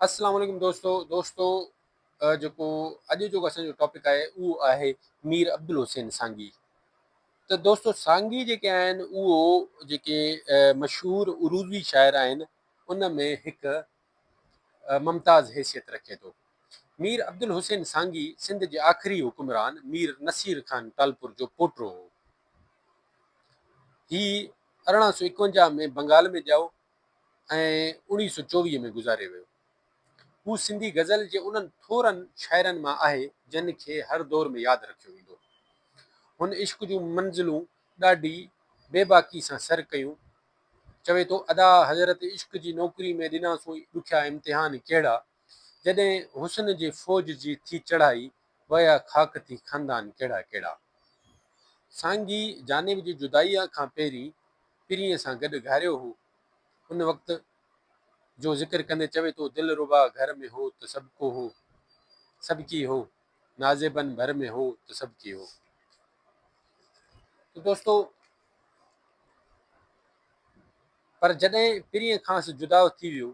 اسلام عليڪم دوستو دوستو جيڪو اڄ جو اسان جو ٽاپڪ آهي اهو آهي مير عبدالحسين سانگي ته دوستو سانگي جيڪي آهن اهو جيڪي مشهور عروضي شاعر آهن ان ۾ هڪ ممتاز حيثيت رکي ٿو مير عبدالحسين سانگي سنڌ جي آخري حڪمران مير نصير خان ٽالپور جو پوٽو هو هي ارڙهن سو اڪونجاهه ۾ بنگال ۾ ڄائو ۽ اوڻيهه سؤ چوويهه ۾ گذاري ويو. هو سنڌي غزل جي انهن ٿورن شاعرن مان آهي جن کي هر دور ۾ ياد رکيو ويندو. هن عشق جون منزلون ڏاڍي بي باڪي سان سر ڪيون. چوي ٿو ادا حضرت عشق جي نوڪري ۾ ڏنا سوئي ڏکيا امتحان ڪهڙا. جڏهن حسن جي فوج جي ٿي چڙهائي ويا خاڪ ٿي خندان ڪهڙا ڪهڙا. سانگي جانب جي جدائيء کان پهرين پرينء سان گڏ گهاريو هو. ان وقت جو ذڪر ڪندي چوي ٿو دلربا گهر ۾ هو ته سڀ ڪو هو سڀ ڪي هو نازيبن ڀر ۾ هو ته سڀ ڪي هو. ته دوستو پر جڏهن پرينء کانئس جدا ٿي ويو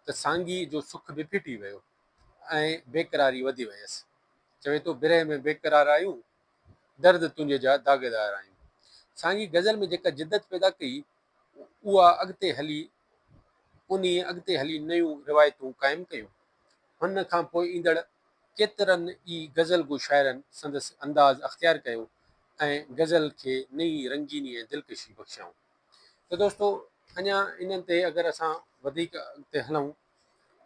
ته سانگيء جو سک به ڦٽي ويو ۽ بيقراري وڌي ويس. چوي ٿو، برهه ۾ بيقرار آيون، درد تنهنجي جا داغدار آيون. سانگيء غزل ۾ جيڪا جدت پيدا ڪئي، اها اڳتي هلي انهيء اڳتي هلي نيون روايتون قائم ڪيون. هن کان پوء ايندڙ ڪيترن ئي غزل گو شاعرن سندس انداز اختيار ڪيو ۽ غزل کي نئين رنگيني ۽ دلڪشي بخشيائون. ته دوستو اڃا انهن تي اگر اسان وڌيڪ اڳتي هلون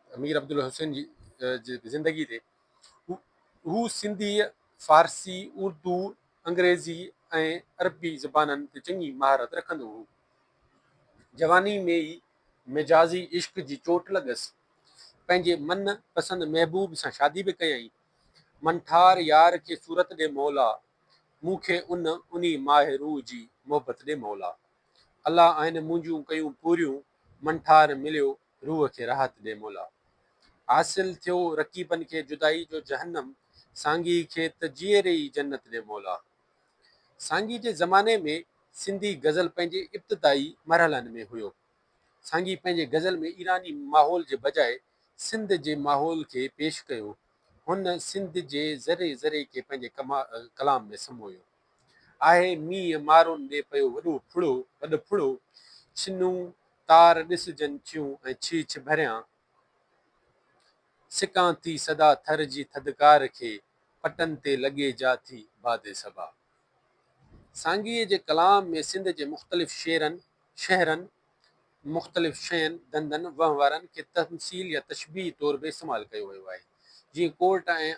ته مير عبدالحسين جي جي زندگي تي هو سنڌي، فارسي، اردو، انگريزي ۽ عربي زبانن تي چڱي مهارت رکندو هو. جواني ۾ ئي مجازي عشق جي چوٽ لڳس. پنهنجي من پسند محبوب سان شادي به ڪيائين. منٺار يار کي صورت ڏي مولا! مون کي ان انهي ماهه روح جي محبت ڏي مولا الله آهن منهنجون ڪيون پوريون من ٺار مليو روح کي راحت ڏي مولا حاصل ٿيو رقيبن کي جدائي جو جهنم سانگي کي ته جيئري ئي جنت ڏي مولا سانگي جي زماني ۾ سنڌي غزل پنهنجي ابتدائي مرحلن ۾ هيو سانگي پنهنجي غزل ۾ ايراني ماحول جي بجاء سنڌ جي ماحول کي پيش ڪيو هن سنڌ جي ذري ذري کي پنهنجي ڪلام ۾ سمويو آهي. مينهن مارون ۾ پيو وڏو ڦڙو، وڏ ڦڙو، ڇنون تار ڏسجن ٿيون ۽ ڇيڇ ڀريان سڪان ٿي سدا ٿر جي ٿڌڪار کي پٽن تي لڳي جا ٿي باڌي سبا. سانگيء جي ڪلام ۾ سنڌ جي مختلف شعرن، شهرن ۽ مختلف شين، ڌنڌن، وهنوارن کي تمثيل يا تشبيهه طور به استعمال ڪيو ويو آهي. جيئن ڪورٽ ۽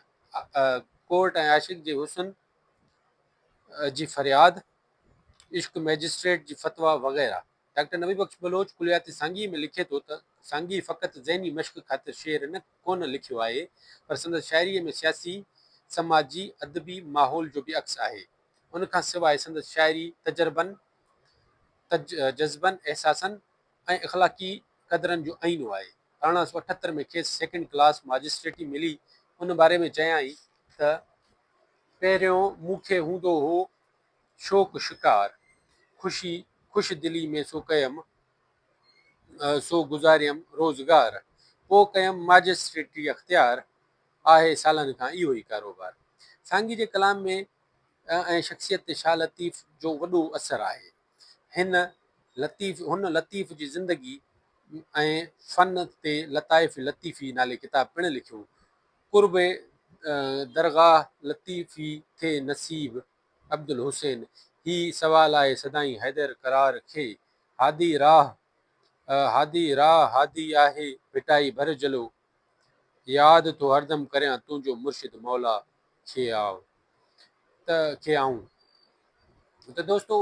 ڪورٽ ۽ عاشق جي حسن جي فرياد، عشق مئجسٽريٽ جي فتويٰ وغيره. ڊاڪٽر نبي بخش بلوچ ڪليات سانگي ۾ لکي ٿو ته، سانگي فقط ذهني مشق خاطر شعر نه ڪونه لکيو آهي، پر سندس شاعريء ۾ سياسي، سماجي، ادبي ماحول جو به عڪس آهي. ان کان سواء سندس شاعري تجربن، ته جذبن، احساسن ۽ اخلاقي قدرن جو آئينو آهي. ارڙهن سؤ اٺهتر ۾ کيس سيڪنڊ ڪلاس ماجسٽريٽي ملي، ان باري ۾ چيائين ته، پهريون مون کي هوندو هو شوق شڪار، خوشي خوش دلي ۾ سو ڪيم، سو گذاريم روزگار، پوء ڪيم ماجسٽريٽي اختيار، آهي سالن کان اهو ئي ڪاروبار. سانگي جي ڪلام ۾ ۽ شخصيت تي شاهه لطيف جو وڏو اثر آهي. هن لطيف هن لطيف جي زندگي ۽ فن تي لطائف لطيفي نالي ڪتاب پڻ لکيو. قرب درگاهه لطيفي ٿئي نصيب عبدالحسين هي سوال آهي سدائين حيدر قرار کي هادي راهه هادي راهه هادي آهي ڀٽائي ڀر جلو ياد ٿو هردم ڪريان تنهنجو مرشد مولا کي آء ته کي آئون. ته دوستو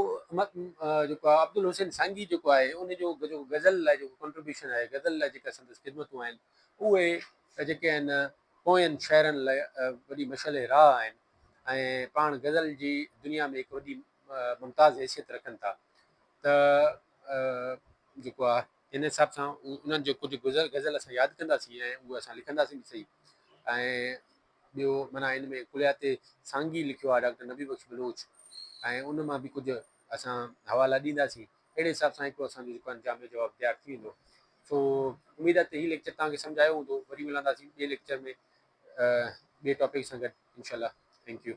جيڪو آهي عبدالحسين سانگي جيڪو آهي ان جو جيڪو غزل لاء جيڪو ڪنٽريبيوشن آهي غزل لاء جيڪا سندس خدمتون آهن اهي جيڪي آهن پوين شاعرن لاء وڏي مشعل راهه آهن ۽ پاڻ غزل جي دنيا ۾ هڪ وڏي ممتاز حيثيت رکن ٿا ته جيڪو آهي ان حساب سان انهن جو ڪجهه گذر غزل اسان ياد ڪنداسين ۽ اهي اسان لکنداسين به صحيح ۽ ٻيو معنيٰ ان ۾ ڪليات سانگي لکيو آهي ڊاڪٽر نبي بخش بلوچ ۽ ان مان به ڪجهه اسان حوالا ڏينداسين اهڙي حساب سان هڪڙو اسان جو جيڪو آهن جامع جواب تيار ٿي ويندو سو اميد آهي ته هي ليڪچر توهان کي سمجهه آيو هوندو وري ملنداسين ٻئي ليڪچر ۾ ٻئي ٽاپڪ سان گڏ انشاء الله ٿينڪ يو